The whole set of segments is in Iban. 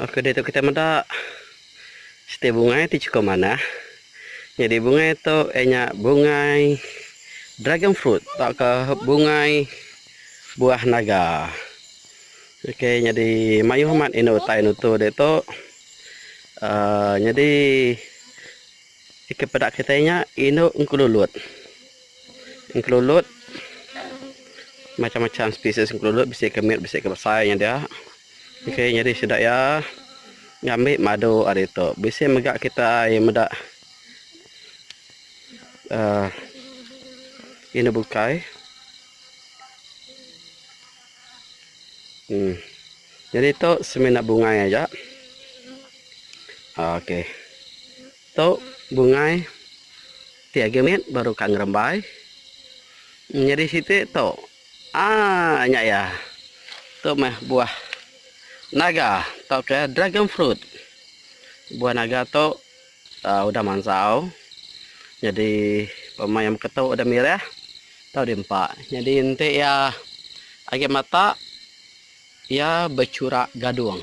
Oke ditu kitai meda siti bungai ti chiko manah nyadi bungai tu iya nya bungai dragon fruit tauka bungai buah naga oke nyadi mayuh amat indu utai nutu ditu aaa nyadi kepeda kitai nya indu engkelulut engkelulut macam-macam spesies engkelulut bisi ke mit bisi ke besai nya dia. Ok nyadi sida iya ngambi madu ari tu bisi mega kitai meda uhh inu bukai uhh nyadi tu semina bungai aja uhh ok tu bungai ti agi mit baru ka ngerembai nyadi siti tu. Aaa nya iya. Tu meh buah naga tauka dragon fruit. Buah naga tu aaa udah mansau nyadi pemain iya mega tu udah mireh tau di empa. Nyadi enti iya agi matak. Iya bechura gadung.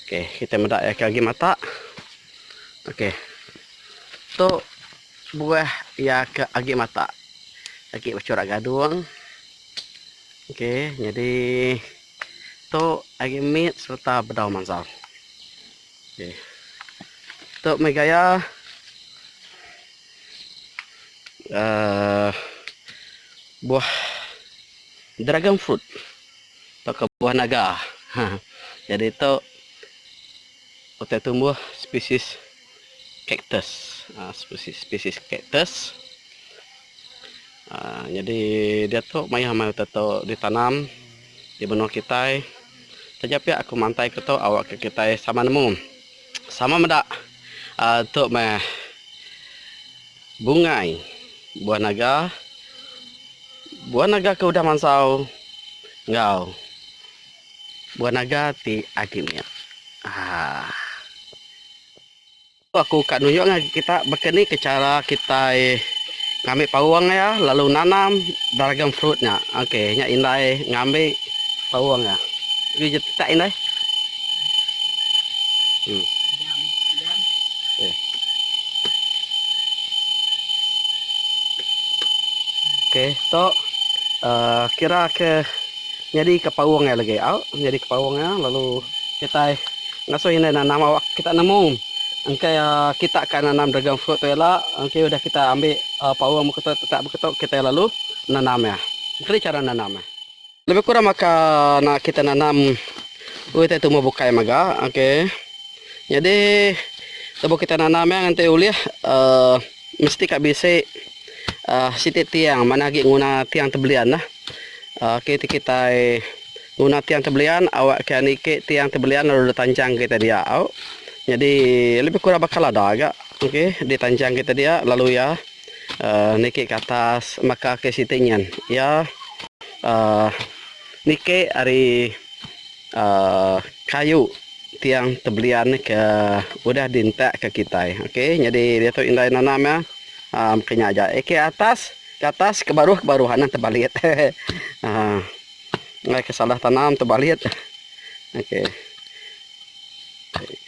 Okey, kita meda iya ke agi mata. Okey. Tu buah iya ke agi mata. Agi bechura gadung. Okey, nyadi tu agi mit sereta bedau mansa. Okey. Tu meh gaya aaa buah dragon fruit. Tu kebuah naga. Jadi tu utai tumbuh spesies cactus. Spesies cactus. Jadi diatu mayuh amai utai tu ditanam di menua kitai. Taja pia aku mantai ke tu awakka kitai sama nemu. Sama meda tu meh bungai buah naga. Buah naga ke udah mansau enggau buah naga ti agi mit. Aaa. Aku ka nunjukka kita baka ni ke chara kitai. ngambi paung iya lalu nanam dragon fruit nya oke nya indai ngambi paung iya agi ja tetak indai hmm. oke to uh, kira ke nyadi ke paung iya lagi au nyadi ke paung iya lalu kitai ngasuh indai nanam awak kita nemu engka iya kita ka nanam dragon fruit tu ila engka udah kita ambi paung muka tu tetap muka tu kitai lalu nanam iya engka ni chara nanam iya lebih kurang maka nak kita nanam oi tai tumbuh bukai mega okey nyadi lebuh kita nanam iya nganti ulih uhh mesti ka bisi uhh siti tiang manah agi nguna tiang tebelian lah. Oke ti kitai nguna tiang ti belian awak ke niki tiang ti belian lalu ditanchang kita dia au nyadi lebih kurang baka lada ga oke ditanchang kita dia lalu iya uhh niki ke atas maka ke siti nyin iya uhh niki ari uhh kayu tiang ti belian ke udah di entak ke kitai oke nyadi diatu indai nanam iya uhh maka nya aja ke atas. Ke atas ke baruh ke baruh ha nah tebalit ha enggai ke salah tanam tebalit ok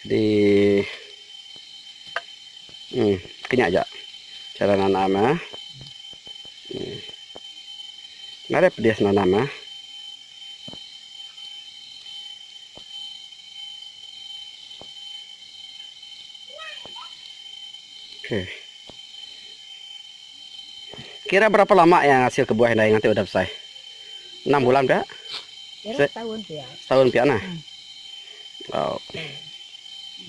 jadi um ke nya aja cara nanam nya um ngarai pedis nanam nya. Kira berapa lama iya ngasil ke buah indai nganti udah besai? Enam bulan pia? Kira setahun pia. Setahun pia nah. Oh.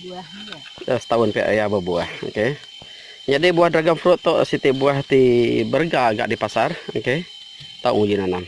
Buah ni. Ya, setahun pia iya berbuah. Okey. Jadi buah dragon fruit tu siti buah ti berega agak di pasar. Okey. Tau uji nanam.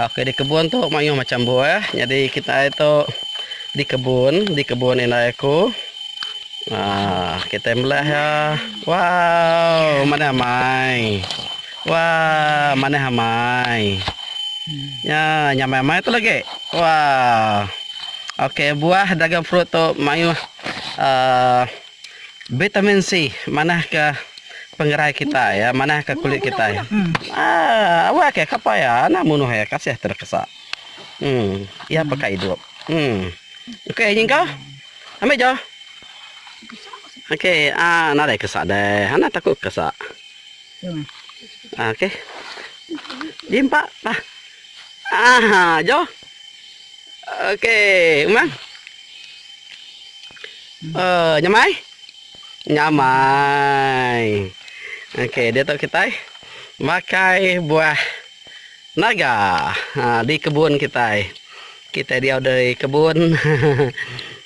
Oke di kebun tu mayuh macam buah. Jadi kita ai tu di kebun, di kebun indai aku. Ha, kita melah ya. Wow, mana amai. Wah, mana amai. Ya, nyamai amai tu lagi. Wah. Oke, buah dragon fruit tu mayuh uh, Bitamin C manah ke pengerai kitai ya manah ke kulit kitai aaa awak ke kapa ya anak munuh ya kasih terekesa um ya peka idup um okey nyingkah ambi jo okey aa nadai kesa deh anak taku kesa okey di empa pa aa jo. Okey umang. Oh, nyamai. Nyamai. Okey, dia tu kita makai buah naga ha, di kebun kita. Kita dia ada di kebun.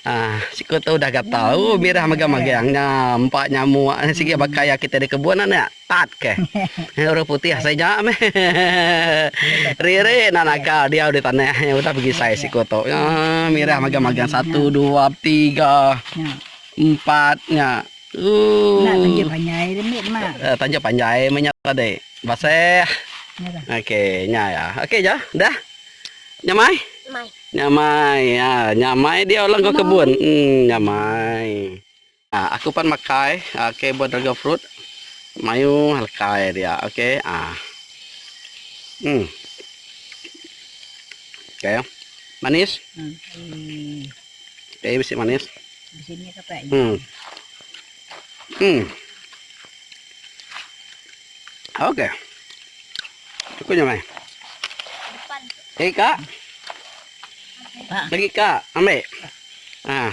Ha, siku tu dah gatal. Oh, mirah magang-magang nya, empa nyamuk sigi bakaya kita di kebun anak. Tat ke. Orang putih saja meh. Riri enda nakal diau di tanah nya udah begisai siku tu. Nya mirah magang-magang satu dua betiga empat nya. Ooh. Nya tanja panjai ri mit ma. Tanja panjai meh nya tadi. Baseh. Okey nya ya. Okey ja. Dah. Nya mai. Nya mai. Nya mai diau la enggau kebun. Em nya mai. Aku pan makai ok buah dragon fruit mayuh lekai dia ok ah um ok manis ok bisi manis um um ok aku nyamai lagi ka lagi ka ambe ah.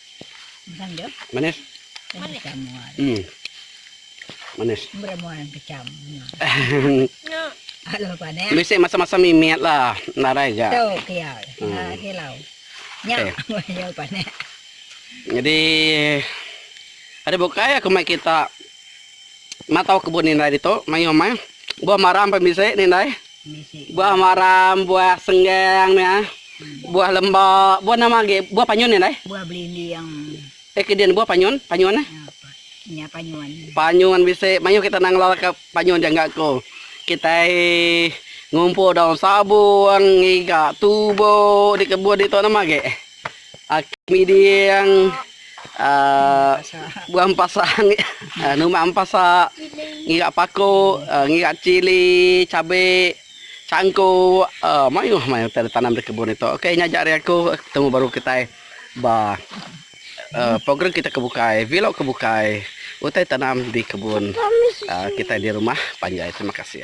Manis. Manis. Bisi masa-masa mimit lah nadai ga. Jadi ari bukai aku mai kita matau kebun indai ditu mayuh meh. Buah maram pun bisi indai. Buah maram, buah senggang nya, buah lemba, buah nama agi, buah panyun nya dai. Buah belinding. Eh ke dian buah panyun, panyun eh. Nya panyun. Panyun bisi mayuh kita nang ngelalaka panyun ja enggak ko. Kitai ngumpul daun sabung, ngiga tubo di kebun ditu nama agi. Aki miding buah empasa numak empasa ngira pako ngira chili cabe changko maioh maioh enda tanam da kebun ito ok nya aja ari aku betemu baru kitai ba program kita ke bukai vlog ke bukai utai tanam di kebun kitai di rumah panjai terima kasih.